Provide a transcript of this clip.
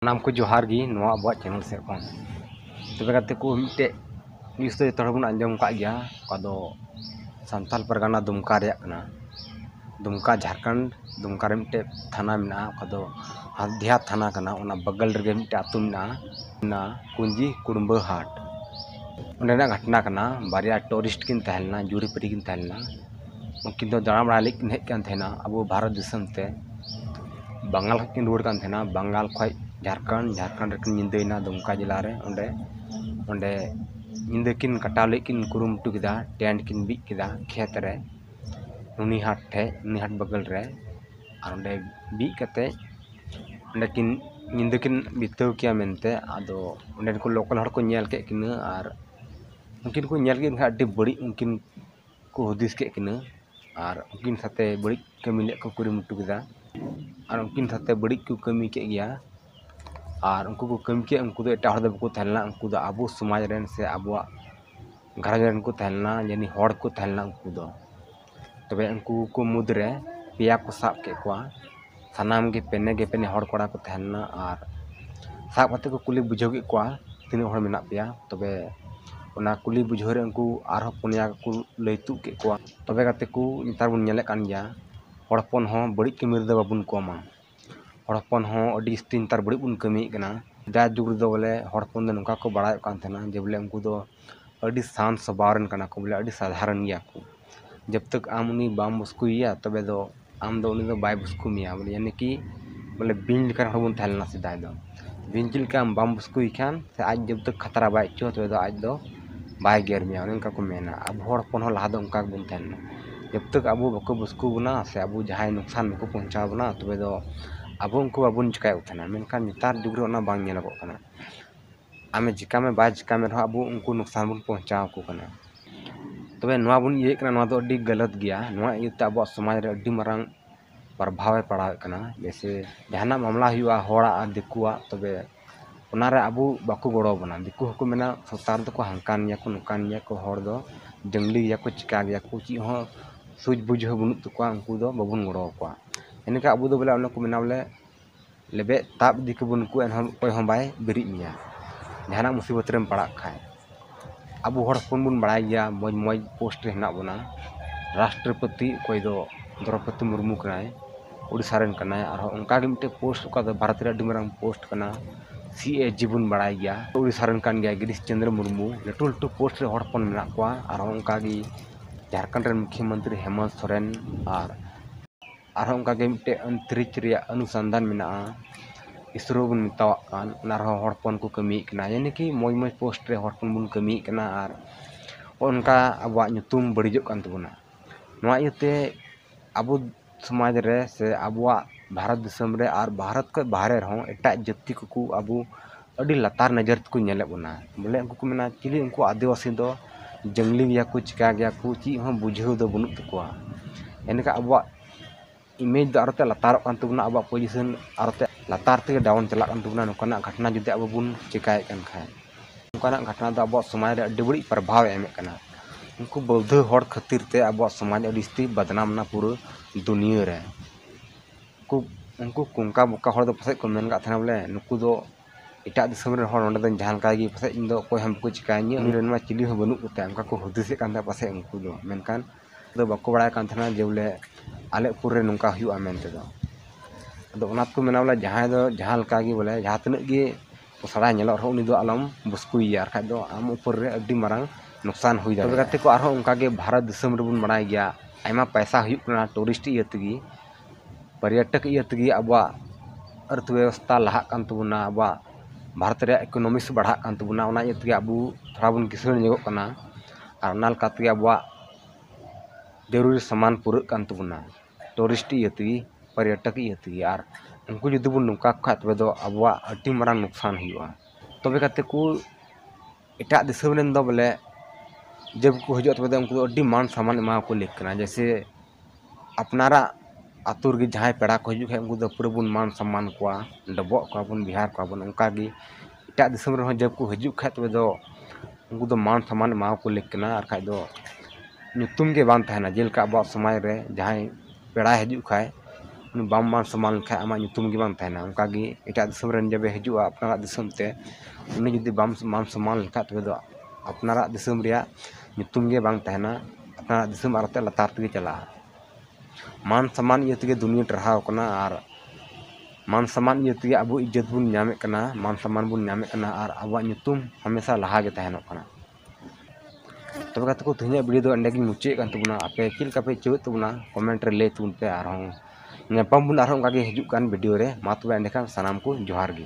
ᱥᱟᱱᱟᱢ ᱠᱚ ᱡᱚᱦᱟᱨ ᱜᱮ ᱱᱚᱣᱟ ᱟᱵᱚᱣᱟᱜ ᱪᱮᱱᱮᱞ ᱥᱮᱫ ᱠᱷᱚᱱ ᱛᱚᱵᱮ ᱜᱟᱛᱮ ᱠᱚ ᱢᱤᱫᱴᱮᱡ ᱱᱤᱭᱩᱡᱽ ᱫᱚ ᱡᱚᱛᱚ ᱦᱚᱲ ᱵᱚᱱ ᱟᱸᱡᱚᱢ ᱠᱟᱜ ᱜᱮᱭᱟ ᱚᱠᱟ ᱫᱚ ᱥᱟᱱᱛᱟᱞ ᱯᱟᱨᱜᱟᱱᱟ ᱫᱩᱢᱠᱟ ᱨᱮᱭᱟᱜ ᱠᱟᱱᱟ ᱫᱩᱢᱠᱟ ᱡᱷᱟᱲᱠᱷᱚᱸᱰ ᱫᱩᱢᱠᱟ ᱨᱮ ᱢᱤᱫᱴᱮᱡ ᱛᱷᱟᱱᱟ ᱢᱮᱱᱟᱜᱼᱟ ᱚᱠᱟ ᱫᱚ ᱦᱟᱞᱫᱤᱭᱟ ᱛᱷᱟᱱᱟ ᱠᱟᱱᱟ ᱚᱱᱟ ᱵᱟᱜᱟᱞ ᱨᱮᱜᱮ ᱢᱤᱫᱴᱮᱡ ᱟᱹᱛᱩ ᱢᱮᱱᱟᱜᱼᱟ ᱚᱱᱟ ᱠᱩᱧᱡᱤ ᱠᱩᱲᱵᱟᱹ ᱦᱟᱴ ᱚᱸᱰᱮᱱᱟᱜ ᱜᱷᱚᱴᱚᱱᱟ ᱠᱟᱱᱟ ᱵᱟᱨᱭᱟ ᱴᱩᱨᱤᱥᱴ ᱠᱤᱱ ᱛᱟᱦᱮᱸ ᱞᱮᱱᱟ ᱡᱩᱨᱤᱼᱯᱟᱹᱨᱤ ᱠᱤᱱ ᱛᱟᱦᱮᱸ ᱞᱮᱱᱟ ᱩᱱᱠᱤᱱ ᱫᱚ ᱫᱟᱬᱟ ᱵᱟᱲᱟᱭ ᱞᱟᱹᱜᱤᱫ ᱠᱤᱱ ᱦᱮᱡ ᱠᱟᱱ ᱛᱟᱦᱮᱱᱟ ᱟᱵᱚ ᱵᱷᱟᱨᱚᱛ ᱫᱤᱥᱚᱢ ᱛᱮ ᱵᱟᱝᱜᱟᱞ ᱠᱷᱚᱡ ᱠᱤᱱ ᱨᱩᱣᱟᱹᱲ ᱠᱟᱱ ᱛᱟᱦᱮᱱᱟ ᱵᱟᱝᱜᱟᱞ ᱠᱷᱚᱡ ᱡᱷᱟᱲᱠᱷᱚᱸᱰ ᱡᱷᱟᱲᱠᱷᱚᱸᱰ ᱨᱮᱠᱤᱱ ᱧᱤᱫᱟᱹᱭᱮᱱᱟ ᱫᱩᱢᱠᱟ ᱡᱮᱞᱟ ᱨᱮ ᱚᱸᱰᱮ ᱚᱸᱰᱮ ᱧᱤᱫᱟᱹ ᱠᱤᱱ ᱠᱟᱴᱟᱣ ᱞᱟᱹᱜᱤᱫ ᱠᱤᱱ ᱠᱩᱨᱩᱢᱩᱴᱩ ᱠᱮᱫᱟ ᱴᱮᱱᱴ ᱠᱤᱱ ᱵᱤᱫ ᱠᱮᱫᱟ ᱠᱷᱮᱛ ᱨᱮ ᱱᱩᱱᱤ ᱦᱟᱴ ᱴᱷᱮᱡ ᱱᱩᱱᱤ ᱦᱟᱴ ᱵᱟᱹᱜᱟᱹᱞ ᱨᱮ ᱟᱨ ᱚᱸᱰᱮ ᱵᱤᱫ ᱠᱟᱛᱮ ᱚᱸᱰᱮ ᱠᱤᱱ ᱧᱤᱫᱟᱹ ᱠᱤᱱ ᱵᱤᱛᱟᱹᱣ ᱠᱮᱭᱟ ᱢᱮᱱᱛᱮ ᱟᱫᱚ ᱚᱸᱰᱮᱱ ᱠᱚ ᱞᱳᱠᱟᱞ ᱦᱚᱲ ᱠᱚ ᱧᱮᱞ ᱠᱮᱫ ᱠᱤᱱᱟᱹ ᱟᱨ ᱩᱱᱠᱤᱱ ᱠᱚ ᱧᱮᱞ ᱠᱮᱫ ᱠᱷᱟᱡ ᱟᱹᱰᱤ ᱵᱟᱹᱲᱤᱡ ᱩᱱᱠᱤᱱ ᱠᱚ ᱦᱩᱫᱤᱥ ᱠᱮᱫ ᱠᱤᱱᱟᱹ ᱟᱨ ᱩᱱᱠᱤᱱ ᱥᱟᱛᱮ ᱵᱟᱹᱲᱤᱡ ᱠᱟᱹᱢᱤ ᱨᱮᱭᱟᱜ ᱠᱚ ᱠᱩᱨᱩᱢᱩᱴᱩ ᱠᱮᱫᱟ ᱟᱨ ᱩᱱᱠᱤᱱ ᱥᱟᱛᱮ ᱵᱟᱹᱲᱤᱡ ᱠᱚ ᱠᱟᱹᱢᱤ ᱠᱮᱫ ᱜᱮᱭᱟ ᱟᱨ ᱩᱱᱠᱩ ᱠᱚ ᱠᱟᱹᱢᱤ ᱠᱮᱫ ᱩᱱᱠᱩ ᱫᱚ ᱮᱴᱟᱜ ᱦᱚᱲ ᱫᱚ ᱵᱟᱠᱚ ᱛᱟᱦᱮᱸ ᱞᱮᱱᱟ ᱩᱱᱠᱩ ᱫᱚ ᱟᱵᱚ ᱥᱚᱢᱟᱡᱽ ᱨᱮᱱ ᱥᱮ ᱟᱵᱚᱣᱟᱜ ᱜᱷᱟᱨᱚᱸᱡᱽ ᱨᱮᱱ ᱠᱚ ᱛᱟᱦᱮᱸ ᱞᱮᱱᱟ ᱡᱟᱹᱱᱤᱡ ᱦᱚᱲ ᱠᱚ ᱛᱟᱦᱮᱸ ᱞᱮᱱᱟ ᱩᱱᱠᱩ ᱫᱚ ᱛᱚᱵᱮ ᱩᱱᱠᱩ ᱠᱚ ᱢᱩᱫᱽᱨᱮ ᱯᱮᱭᱟ ᱠᱚ ᱥᱟᱵ ᱠᱮᱫ ᱠᱚᱣᱟ ᱥᱟᱱᱟᱢ ᱜᱮ ᱯᱮᱱᱮ ᱜᱮ ᱯᱮᱱᱮ ᱦᱚᱲ ᱠᱚᱲᱟ ᱠᱚ ᱛᱟᱦᱮᱸ ᱞᱮᱱᱟ ᱟᱨ ᱥᱟᱵ ᱠᱟᱛᱮᱫ ᱠᱚ ᱠᱩᱞᱤ ᱵᱩᱡᱷᱟᱹᱣ ᱠᱮᱫ ᱠᱚᱣᱟ ᱛᱤᱱᱟᱹᱜ ᱦᱚᱲ ᱢᱮᱱᱟᱜ ᱯᱮᱭᱟ ᱛᱚᱵᱮ ᱚᱱᱟ ᱠᱩᱞᱤ ᱵᱩᱡᱷᱟᱹᱣ ᱨᱮ ᱩᱱᱠᱩ ᱟᱨᱦᱚᱸ ᱯᱩᱱᱭᱟ ᱠᱚ ᱞᱟᱹᱭ ᱛᱩᱫ ᱠᱮᱫ ᱠᱚᱣᱟ ᱛᱚᱵᱮ ᱠᱟᱛᱮᱫ ᱠᱚ ᱱᱮᱛᱟᱨ ᱵᱚᱱ ᱧᱮᱞᱮᱫ ᱠᱟᱱ ᱜᱮᱭᱟ ᱦᱚᱲ ᱦᱚᱯᱚᱱ ᱦᱚᱸ ᱵᱟᱹᱲᱤᱡ ᱠᱟᱹᱢᱤ ᱨᱮᱫᱚ ᱵᱟᱵᱚᱱ ᱠᱚᱢᱟ ᱦᱚᱲ ᱦᱚᱯᱚᱱ ᱦᱚᱸ ᱟᱹᱰᱤ ᱡᱟᱹᱥᱛᱤ ᱱᱮᱛᱟᱨ ᱵᱟᱹᱲᱤᱡ ᱵᱚᱱ ᱠᱟᱹᱢᱤᱭᱮᱫ ᱠᱟᱱᱟ ᱥᱮᱫᱟᱭ ᱡᱩᱜᱽ ᱨᱮᱫᱚ ᱵᱚᱞᱮ ᱦᱚᱲ ᱦᱚᱯᱚᱱ ᱫᱚ ᱱᱚᱝᱠᱟ ᱠᱚ ᱵᱟᱲᱟᱭᱚᱜ ᱠᱟᱱ ᱛᱟᱦᱮᱱᱟ ᱡᱮ ᱵᱚᱞᱮ ᱩᱱᱠᱩ ᱫᱚ ᱟᱹᱰᱤ ᱥᱟᱱᱛ ᱥᱚᱵᱷᱟᱣ ᱨᱮᱱ ᱠᱟᱱᱟ ᱠᱚ ᱵᱚᱞᱮ ᱟᱹᱰᱤ ᱥᱟᱫᱷᱟᱨᱚᱱ ᱜᱮᱭᱟ ᱠᱚ ᱡᱚᱵᱽ ᱛᱚᱠ ᱟᱢ ᱩᱱᱤ ᱵᱟᱢ ᱵᱩᱥᱠᱩᱭᱮᱭᱟ ᱛᱚᱵᱮ ᱫᱚ ᱟᱢ ᱫᱚ ᱩᱱᱤ ᱫᱚ ᱵᱟᱭ ᱵᱩᱥᱠᱩ ᱢᱮᱭᱟ ᱵᱚᱞᱮ ᱤᱭᱟᱱᱤ ᱠᱤ ᱵᱚᱞᱮ ᱵᱤᱧ ᱞᱮᱠᱟᱱ ᱦᱚᱲ ᱵᱚᱱ ᱛᱟᱦᱮᱸ ᱞᱮᱱᱟ ᱥᱮᱫᱟᱭ ᱫᱚ ᱵᱤᱧ ᱪᱮᱫ ᱞᱮᱠᱟ ᱟᱢ ᱵᱟᱢ ᱵᱩᱥᱠᱩᱭᱮ ᱠᱷᱟᱱ ᱥᱮ ᱟᱡ ᱡᱚᱵᱽ ᱛᱚᱠ ᱠᱷᱟᱛᱨᱟ ᱵᱟᱭ ᱟᱹᱭᱠᱟᱹᱣᱟ ᱛᱚᱵᱮ ᱫᱚ ᱟᱡ ᱫᱚ ᱵᱟᱭ ᱜᱮᱨ ᱢᱮᱭᱟ ᱚᱱᱮ ᱚᱱᱠᱟ ᱠᱚ ᱢᱮᱱᱟ ᱟᱵᱚ ᱦᱚᱲ ᱦᱚᱯᱚᱱ ᱦᱚᱸ ᱞᱟᱦᱟ ᱫᱚ ᱚᱱᱠᱟ ᱜᱮᱵᱚᱱ ᱛᱟᱦᱮᱸ ᱞᱮᱱᱟ ᱡᱚᱵᱽ ᱛᱚᱠ ᱟᱵᱚ ᱵᱟᱠᱚ ᱵᱩᱥᱠᱩ ᱵᱚᱱᱟ ᱥᱮ ᱟᱵᱚ ᱡᱟᱦᱟᱸᱭ ᱞᱚᱠᱥᱟᱱ ᱵᱟᱠᱚ ᱯᱳᱣᱪᱷᱟᱣ ᱵᱚᱱᱟ ᱛᱚᱵᱮ ᱫᱚ ᱟᱵᱚ ᱩᱱᱠᱩ ᱵᱟᱵᱚᱱ ᱪᱤᱠᱟᱹᱭᱮᱫ ᱠᱚ ᱛᱟᱦᱮᱱᱟ ᱢᱮᱱᱠᱷᱟᱱ ᱱᱮᱛᱟᱨ ᱡᱩᱜᱽ ᱨᱮ ᱚᱱᱟ ᱵᱟᱝ ᱧᱮᱞᱚᱜᱚᱜ ᱠᱟᱱᱟ ᱟᱢᱮ ᱪᱤᱠᱟᱹ ᱢᱮ ᱵᱟᱭ ᱪᱤᱠᱟᱹ ᱢᱮ ᱨᱮᱦᱚᱸ ᱟᱵᱚ ᱩᱱᱠᱩ ᱞᱚᱠᱥᱟᱱ ᱵᱚᱱ ᱯᱚᱦᱪᱟᱣ ᱟᱠᱚ ᱠᱟᱱᱟ ᱛᱚᱵᱮ ᱱᱚᱣᱟ ᱵᱚᱱ ᱤᱭᱟᱹᱭᱮᱫ ᱠᱟᱱᱟ ᱱᱚᱣᱟ ᱫᱚ ᱟᱹᱰᱤ ᱜᱟᱹᱞᱟᱹᱛ ᱜᱮᱭᱟ ᱱᱚᱣᱟ ᱤᱭᱟᱹ ᱛᱮ ᱟᱵᱚᱣᱟᱜ ᱥᱚᱢᱟᱡᱽ ᱨᱮ ᱟᱹᱰᱤ ᱢᱟᱨᱟᱝ ᱯᱨᱚᱵᱷᱟᱵᱮ ᱯᱟᱲᱟᱣᱮᱫ ᱠᱟᱱᱟ ᱡᱮᱭᱥᱮ ᱡᱟᱦᱟᱱᱟᱜ ᱢᱟᱢᱞᱟ ᱦᱩᱭᱩᱜᱼᱟ ᱦᱚᱲᱟᱜ ᱟᱨ ᱫᱤᱠᱩᱣᱟᱜ ᱛᱚᱵᱮ ᱚᱱᱟ ᱨᱮ ᱟᱵᱚ ᱵᱟᱠᱚ ᱜᱚᱲᱚ ᱟᱵᱚᱱᱟ ᱫᱤᱠᱩ ᱦᱚᱸᱠᱚ ᱢᱮᱱᱟ ᱥᱚᱨᱠᱟᱨ ᱫᱚᱠᱚ ᱦᱟᱱᱠᱟᱱ ᱜᱮᱭᱟ ᱠᱚ ᱱᱚᱝᱠᱟᱱ ᱜᱮᱭᱟ ᱠᱚ ᱦᱚᱲ ᱫᱚ ᱡᱟᱹᱝᱞᱤ ᱜᱮᱭᱟ ᱠᱚ ᱪᱤᱠᱟᱹ ᱜᱮᱭᱟ ᱠᱚ ᱪᱮᱫ ᱦᱚᱸ ᱥᱩᱡᱽ ᱵᱩᱡᱽ ᱦᱚᱸ ᱵᱟᱹᱱᱩᱜ ᱛᱟᱠᱚᱣᱟ ᱩᱱᱠᱩ ᱫᱚ ᱵᱟᱵᱚᱱ ᱜᱚᱲᱚ ᱟᱠᱚᱣᱟ ᱤᱱᱟᱹ ᱠᱷᱟᱱ ᱟᱵᱚ ᱫᱚ ᱵᱚᱞᱮ ᱚᱱᱮ ᱠᱚ ᱢᱮᱱᱟ ᱵᱚᱞᱮ ᱞᱮᱵᱮᱫ ᱛᱟᱵ ᱤᱫᱤ ᱠᱚᱵᱚ ᱱᱩᱠᱩ ᱮᱱᱦᱚᱸ ᱚᱠᱚᱭ ᱦᱚᱸ ᱵᱟᱭ ᱵᱮᱨᱮᱫ ᱢᱮᱭᱟ ᱡᱟᱦᱟᱱᱟᱜ ᱢᱩᱥᱤᱵᱚᱛ ᱨᱮᱢ ᱯᱟᱲᱟᱜ ᱠᱷᱟᱱ ᱟᱵᱚ ᱦᱚᱲ ᱦᱚᱯᱚᱱ ᱵᱚᱱ ᱵᱟᱲᱟᱭ ᱜᱮᱭᱟ ᱢᱚᱡᱽ ᱢᱚᱡᱽ ᱯᱳᱥᱴ ᱨᱮ ᱦᱮᱱᱟᱜ ᱵᱚᱱᱟ ᱨᱟᱥᱴᱨᱚᱯᱚᱛᱤ ᱚᱠᱚᱭ ᱫᱚ ᱫᱨᱳᱣᱯᱚᱫᱤ ᱢᱩᱨᱢᱩ ᱠᱟᱱᱟᱭ ᱳᱰᱤᱥᱟ ᱨᱮᱱ ᱠᱟᱱᱟᱭ ᱟᱨ ᱦᱚᱸ ᱚᱱᱠᱟ ᱜᱮ ᱢᱤᱫᱴᱮᱱ ᱯᱳᱥᱴ ᱚᱠᱟ ᱫᱚ ᱵᱷᱟᱨᱚᱛ ᱨᱮ ᱟᱹᱰᱤ ᱢᱟᱨᱟᱝ ᱯᱳᱥᱴ ᱠᱟᱱᱟ ᱥᱤ ᱮ ᱡᱤ ᱵᱚᱱ ᱵᱟᱲᱟᱭ ᱜᱮᱭᱟ ᱳᱰᱤᱥᱟ ᱨᱮᱱ ᱠᱟᱱ ᱜᱮᱭᱟᱭ ᱜᱤᱨᱤᱥ ᱪᱚᱱᱫᱨᱚ ᱢᱩᱨᱢᱩ ᱞᱟᱹᱴᱩ ᱞᱟᱹᱴᱩ ᱯᱳᱥᱴ ᱨᱮ ᱦᱚᱲ ᱦᱚᱯᱚᱱ ᱢᱮᱱᱟᱜ ᱠᱚᱣᱟ ᱟᱨ ᱦᱚᱸ ᱚᱱᱠᱟ ᱜᱮ ᱡᱷᱟᱲᱠᱷᱚᱸᱰ ᱨᱮᱱ ᱢᱩᱠᱷᱭᱟᱹ ᱢᱚᱱᱛᱨᱤ ᱦᱮᱢᱚᱱᱛ ᱥᱚᱨᱮᱱ ᱟᱨ ᱟᱨᱦᱚᱸ ᱚᱱᱠᱟᱜᱮ ᱢᱤᱫᱴᱮᱡ ᱟᱱᱛᱚᱨᱤᱡᱽ ᱨᱮᱭᱟᱜ ᱚᱱᱩᱥᱚᱱᱫᱷᱟᱱ ᱢᱮᱱᱟᱜᱼᱟ ᱤᱥᱨᱳ ᱵᱚᱱ ᱢᱮᱛᱟᱣᱟᱜ ᱠᱟᱱ ᱚᱱᱟ ᱨᱮᱦᱚᱸ ᱦᱚᱲ ᱦᱚᱯᱚᱱ ᱠᱚ ᱠᱟᱹᱢᱤᱭᱮᱫ ᱠᱟᱱᱟ ᱡᱟᱱᱤ ᱠᱤ ᱢᱚᱡᱽ ᱢᱚᱡᱽ ᱯᱳᱥᱴ ᱨᱮ ᱦᱚᱲ ᱦᱚᱯᱚᱱ ᱵᱚᱱ ᱠᱟᱹᱢᱤᱭᱮᱫ ᱠᱟᱱᱟ ᱟᱨ ᱚᱱᱠᱟ ᱟᱵᱚᱣᱟᱜ ᱧᱩᱛᱩᱢ ᱵᱟᱹᱲᱤᱡᱚᱜ ᱠᱟᱱ ᱛᱟᱵᱚᱱᱟ ᱱᱚᱣᱟ ᱤᱭᱟᱹᱛᱮ ᱟᱵᱚ ᱥᱚᱢᱟᱡᱽ ᱨᱮ ᱥᱮ ᱟᱵᱚᱣᱟᱜ ᱵᱷᱟᱨᱚᱛ ᱫᱤᱥᱚᱢ ᱨᱮ ᱟᱨ ᱵᱷᱟᱨᱚᱛ ᱠᱷᱚᱡ ᱵᱟᱦᱨᱮ ᱨᱮᱦᱚᱸ ᱮᱴᱟᱜ ᱡᱟᱹᱛᱤ ᱠᱚᱠᱚ ᱟᱵᱚ ᱟᱹᱰᱤ ᱞᱟᱛᱟᱨ ᱱᱚᱡᱚᱨ ᱛᱮᱠᱚ ᱧᱮᱞᱮᱫ ᱵᱚᱱᱟ ᱵᱚᱞᱮ ᱩᱱᱠᱩ ᱠᱚ ᱢᱮᱱᱟ ᱪᱤᱞᱤ ᱩᱱᱠᱩ ᱟᱹᱫᱤᱵᱟᱹᱥᱤ ᱫᱚ ᱡᱟᱹᱝᱞᱤ ᱜᱮᱭᱟ ᱠᱚ ᱪᱤᱠᱟ ᱜᱮᱭᱟ ᱠᱚ ᱪᱮᱫ ᱦᱚᱸ ᱵᱩᱡᱷᱟᱹᱣ ᱫᱚ ᱵᱟᱹᱱᱩᱜ ᱛᱟᱠᱚᱣᱟ ᱮᱱᱠᱷᱟᱱ ᱟᱵᱚᱣᱟᱜ ᱤᱢᱮᱡᱽ ᱫᱚ ᱟᱨᱚ ᱛᱮᱫ ᱞᱟᱛᱟᱨᱚᱜ ᱠᱟᱱ ᱛᱟᱵᱚᱱᱟ ᱟᱵᱚᱣᱟᱜ ᱯᱚᱡᱤᱥᱮᱱ ᱟᱨᱚ ᱛᱮᱫ ᱞᱟᱛᱟᱨ ᱛᱮᱜᱮ ᱰᱟᱣᱩᱱ ᱪᱟᱞᱟᱜ ᱠᱟᱱ ᱛᱟᱵᱚᱱᱟ ᱱᱚᱝᱠᱟᱱᱟᱜ ᱜᱷᱚᱴᱚᱱᱟ ᱡᱩᱫᱤ ᱟᱵᱚ ᱵᱚᱱ ᱪᱤᱠᱟᱭᱮᱫ ᱠᱟᱱ ᱠᱷᱟᱱ ᱱᱚᱝᱠᱟᱱᱟᱜ ᱜᱷᱚᱴᱚᱱᱟ ᱫᱚ ᱟᱵᱚᱣᱟᱜ ᱥᱚᱢᱟᱡᱽ ᱨᱮ ᱟᱹᱰᱤ ᱵᱟᱹᱲᱤᱡ ᱯᱨᱚᱵᱷᱟᱵᱽ ᱮ ᱮᱢᱮᱫ ᱠᱟᱱᱟ ᱩᱱᱠᱩ ᱵᱳᱫᱽᱫᱷᱚ ᱦᱚᱲ ᱠᱷᱟᱹᱛᱤᱨ ᱛᱮ ᱟᱵᱚᱣᱟᱜ ᱥᱚᱢᱟᱡᱽ ᱟᱹᱰᱤ ᱡᱟᱹᱥᱛᱤ ᱵᱚᱫᱽᱱᱟᱢ ᱮᱱᱟ ᱯᱩᱨᱟᱹ ᱫᱩᱱᱤᱭᱟᱹ ᱨᱮ ᱩᱱᱠᱩ ᱠᱚᱝᱠᱟ ᱵᱚᱠᱟ ᱦᱚᱲ ᱫᱚ ᱯᱟᱥᱮᱡ ᱠᱚ ᱢᱮᱱ ᱠᱟᱜ ᱛᱟᱦᱮᱱᱟ ᱵᱚᱞᱮ ᱱᱩᱠᱩ ᱫᱚ ᱮᱴᱟᱜ ᱫᱤᱥᱚᱢ ᱨᱮᱱ ᱦᱚᱲ ᱱᱚᱰᱮ ᱫᱚᱧ ᱡᱟᱦᱟᱸ ᱞᱮᱠᱟᱭ ᱜᱮ ᱯᱟᱥᱮᱡ ᱤᱧ ᱫᱚ ᱚᱠᱚᱭ ᱦᱚᱸ ᱵᱟᱠᱚ ᱪᱤᱠᱟᱹᱧᱟ ᱤᱧ ᱨᱮᱱ ᱢᱟ ᱪᱤᱞᱤ ᱦᱚᱸ ᱵᱟᱹᱱᱩᱜ ᱠᱚᱛᱮ ᱚᱱᱠᱟ ᱠᱚ ᱦᱩᱫᱤᱥᱮᱜ ᱠᱟᱱ ᱛᱟᱦᱮᱱᱟ ᱯᱟᱥᱮᱡ ᱩᱱᱠᱩ ᱫᱚ ᱢᱮᱱᱠᱷᱟᱱ ᱩᱱᱠᱩ ᱫᱚ ᱵᱟᱠᱚ ᱵᱟᱲᱟᱭ ᱠᱟᱱ ᱛᱟᱦᱮᱱᱟ ᱡᱮ ᱵᱚᱞᱮ ᱟᱞᱮ ᱩᱯᱚᱨ ᱨᱮ ᱱᱚᱝᱠᱟ ᱦᱩᱭᱩᱜᱼᱟ ᱢᱮᱱᱛᱮ ᱫᱚ ᱟᱫᱚ ᱚᱱᱟ ᱛᱮᱠᱚ ᱢᱮᱱᱟ ᱵᱚᱞᱮ ᱡᱟᱦᱟᱸᱭ ᱫᱚ ᱡᱟᱦᱟᱸ ᱞᱮᱠᱟ ᱜᱮ ᱵᱚᱞᱮ ᱡᱟᱦᱟᱸ ᱛᱤᱱᱟᱹᱜ ᱜᱮ ᱯᱚᱥᱲᱟᱭ ᱧᱮᱞᱚᱜ ᱨᱮᱦᱚᱸ ᱩᱱᱤ ᱫᱚ ᱟᱞᱚᱢ ᱵᱩᱥᱠᱩᱭᱮᱭᱟ ᱟᱨ ᱠᱷᱟᱡ ᱫᱚ ᱟᱢ ᱩᱯᱚᱨ ᱨᱮ ᱟᱹᱰᱤ ᱢᱟᱨᱟᱝ ᱞᱚᱠᱥᱟᱱ ᱦᱩᱭ ᱫᱟᱲᱮᱭᱟᱜᱼᱟ ᱛᱚᱵᱮ ᱜᱟᱛᱮ ᱠᱚ ᱟᱨᱦᱚᱸ ᱚᱱᱠᱟ ᱜᱮ ᱵᱷᱟᱨᱚᱛ ᱫᱤᱥᱚᱢ ᱨᱮᱵᱚᱱ ᱵᱟᱲᱟᱭ ᱜᱮᱭᱟ ᱟᱭᱢᱟ ᱯᱟᱭᱥᱟ ᱦᱩᱭᱩᱜ ᱠᱟᱱᱟ ᱴᱩᱨᱤᱥᱴ ᱤᱭᱟᱹ ᱛᱮᱜᱮ ᱯᱟᱨᱭᱚᱴᱚᱠ ᱤᱭᱟᱹ ᱛᱮᱜᱮ ᱟᱵᱚᱣᱟᱜ ᱟᱹᱨᱛᱷ ᱵᱮᱵᱚᱥᱛᱷᱟ ᱞᱟᱦᱟᱜ ᱠᱟᱱ ᱛᱟᱵᱚᱱᱟ ᱟᱵᱚᱣᱟᱜ ᱵᱷᱟᱨᱚᱛ ᱨᱮᱭᱟᱜ ᱤᱠᱳᱱᱚᱢᱤᱠᱥ ᱵᱟᱲᱦᱟᱜ ᱠᱟᱱ ᱛᱟᱵᱚᱱᱟ ᱚᱱᱟ ᱤᱭᱟᱹ ᱛᱮᱜᱮ ᱟᱵᱚ ᱛᱷᱚᱲᱟ ᱵᱚᱱ ᱠᱤᱥᱟᱹᱬ ᱧᱚᱜᱚᱜ ᱠᱟᱱᱟ ᱟᱨ ᱚᱱᱟ ᱞᱮᱠᱟ ᱛᱮᱜᱮ ᱟᱵᱚᱣᱟᱜ ᱡᱟᱹᱨᱩᱨᱤ ᱥᱟᱢᱟᱱ ᱯᱩᱨᱟᱹᱜ ᱠᱟᱱ ᱛᱟᱵᱚᱱᱟ ᱴᱩᱨᱤᱥᱴ ᱤᱭᱟᱹ ᱛᱮᱜᱮ ᱯᱚᱨᱭᱚᱴᱚᱠ ᱤᱭᱟᱹ ᱛᱮᱜᱮ ᱟᱨ ᱩᱱᱠᱩ ᱡᱩᱫᱤ ᱵᱚᱱ ᱱᱚᱝᱠᱟ ᱠᱚ ᱠᱷᱟᱡ ᱛᱚᱵᱮ ᱫᱚ ᱟᱵᱚᱣᱟᱜ ᱟᱹᱰᱤ ᱢᱟᱨᱟᱝ ᱞᱚᱠᱥᱟᱱ ᱦᱩᱭᱩᱜᱼᱟ ᱛᱚᱵᱮ ᱠᱟᱛᱮᱫ ᱠᱚ ᱮᱴᱟᱜ ᱫᱤᱥᱚᱢ ᱨᱮᱱ ᱫᱚ ᱵᱚᱞᱮ ᱡᱚᱵ ᱠᱚ ᱦᱤᱡᱩᱜᱼᱟ ᱛᱚᱵᱮ ᱫᱚ ᱩᱱᱠᱩ ᱫᱚ ᱟᱹᱰᱤ ᱢᱟᱱ ᱥᱚᱱᱢᱟᱱ ᱮᱢᱟ ᱠᱚ ᱞᱮᱠ ᱠᱟᱱᱟ ᱡᱮᱭᱥᱮ ᱟᱯᱱᱟᱨᱟᱜ ᱟᱹᱛᱩ ᱨᱮᱜᱮ ᱡᱟᱦᱟᱸᱭ ᱯᱮᱲᱟ ᱠᱚ ᱦᱤᱡᱩᱜ ᱠᱷᱟᱡ ᱩᱱᱠᱩ ᱫᱚ ᱯᱩᱨᱟᱹ ᱵᱚᱱ ᱢᱟᱱ ᱥᱚᱱᱢᱟᱱ ᱠᱚᱣᱟ ᱰᱚᱵᱚᱜ ᱠᱚᱣᱟ ᱵᱚᱱ ᱵᱮᱣᱦᱟᱨ ᱠᱚᱣᱟ ᱵᱚᱱ ᱚᱱᱠᱟ ᱜᱮ ᱮᱴᱟᱜ ᱫᱤᱥᱚᱢ ᱨᱮᱦᱚᱸ ᱡᱟᱹᱵᱽ ᱠᱚ ᱦᱤᱡᱩᱜ ᱠᱷᱟᱡ ᱛᱚᱵᱮ ᱫᱚ ᱩᱱᱠᱩ ᱫᱚ ᱢᱟᱱ ᱥᱚᱱᱢᱟᱱ ᱮᱢᱟᱣ ᱠᱚ ᱞᱮᱠ ᱠᱟᱱᱟ ᱟᱨ ᱵᱟᱠᱷᱟᱡ ᱫᱚ ᱧᱩᱛᱩᱢ ᱜᱮ ᱵᱟᱝ ᱛᱟᱦᱮᱱᱟ ᱡᱮᱞᱮᱠᱟ ᱟᱵᱚᱣᱟᱜ ᱥᱚᱢᱟᱡᱽ ᱨᱮ ᱡᱟᱦᱟᱸᱭ ᱯᱮᱲᱟᱭ ᱦᱤᱡᱩᱜ ᱠᱷᱟᱡ ᱩᱱᱤ ᱵᱟᱢ ᱢᱟᱱ ᱥᱚᱱᱢᱟᱱ ᱞᱮᱠᱷᱟᱡ ᱟᱢᱟᱜ ᱧᱩᱛᱩᱢ ᱜᱮ ᱵᱟᱝ ᱛᱟᱦᱮᱱᱟ ᱚᱱᱠᱟ ᱜᱮ ᱮᱴᱟᱜ ᱫᱤᱥᱚᱢ ᱨᱮᱱ ᱡᱟᱵᱮ ᱦᱤᱡᱩᱜᱼᱟ ᱟᱯᱱᱟᱨᱟᱜ ᱫᱤᱥᱚᱢ ᱛᱮ ᱩᱱᱤ ᱡᱩᱫᱤ ᱵᱟᱢ ᱢᱟᱱ ᱥᱚᱱᱢᱟᱱ ᱞᱮᱠᱷᱟᱡ ᱛᱚᱵᱮ ᱫᱚ ᱟᱯᱱᱟᱨᱟᱜ ᱫᱤᱥᱚᱢ ᱨᱮᱭᱟᱜ ᱧᱩᱛᱩᱢ ᱜᱮ ᱵᱟᱝ ᱛᱟᱦᱮᱱᱟ ᱟᱯᱱᱟᱨᱟᱜ ᱫᱤᱥᱚᱢ ᱟᱨᱚ ᱛᱮᱫ ᱞᱟᱛᱟᱨ ᱛᱮᱜᱮ ᱪᱟᱞᱟᱜᱼᱟ ᱢᱟᱱ ᱥᱚᱱᱢᱟᱱ ᱤᱭᱟᱹ ᱛᱮᱜᱮ ᱫᱩᱱᱭᱟᱹ ᱴᱟᱨᱦᱟᱣ ᱠᱟᱱᱟ ᱟᱨ ᱢᱟᱱ ᱥᱚᱱᱢᱟᱱ ᱤᱭᱟᱹ ᱛᱮᱜᱮ ᱟᱵᱚ ᱤᱡᱡᱚᱛ ᱵᱚᱱ ᱧᱟᱢᱮᱫ ᱠᱟᱱᱟ ᱢᱟᱱ ᱥᱚᱱᱢᱟᱱ ᱵᱚᱱ ᱧᱟᱢᱮᱫ ᱠᱟᱱᱟ ᱟᱨ ᱟᱵᱚᱣᱟᱜ ᱧᱩᱛᱩᱢ ᱦᱟᱢᱮᱥᱟ ᱞᱟᱦᱟ ᱜᱮ ᱛᱟᱦᱮᱱᱚᱜ ᱠᱟᱱᱟ ᱛᱚᱵᱮ ᱜᱟᱛᱮ ᱠᱚ ᱛᱮᱦᱮᱧᱟᱜ ᱵᱷᱤᱰᱤᱭᱳ ᱫᱚ ᱮᱸᱰᱮ ᱜᱮᱧ ᱢᱩᱪᱟᱹᱫ ᱮᱫ ᱠᱟᱱ ᱛᱟᱵᱚᱱᱟ ᱟᱯᱮ ᱪᱮᱫ ᱞᱮᱠᱟ ᱯᱮ ᱟᱹᱭᱠᱟᱹᱣᱮᱫ ᱛᱟᱵᱚᱱᱟ ᱠᱚᱢᱮᱱᱴ ᱨᱮ ᱞᱟᱹᱭ ᱛᱟᱵᱚᱱ ᱯᱮ ᱟᱨᱦᱚᱸ ᱧᱟᱯᱟᱢ ᱵᱚᱱ ᱟᱨᱦᱚᱸ ᱚᱱᱠᱟ ᱜᱮ ᱦᱤᱡᱩᱜ ᱠᱟᱱ ᱵᱷᱤᱰᱤᱭᱳ ᱨᱮ ᱢᱟ ᱛᱚᱵᱮ ᱮᱸᱰᱮᱠᱷᱟᱱ ᱥᱟᱱᱟᱢ ᱠᱚ ᱡᱚᱦᱟᱨ ᱜᱮ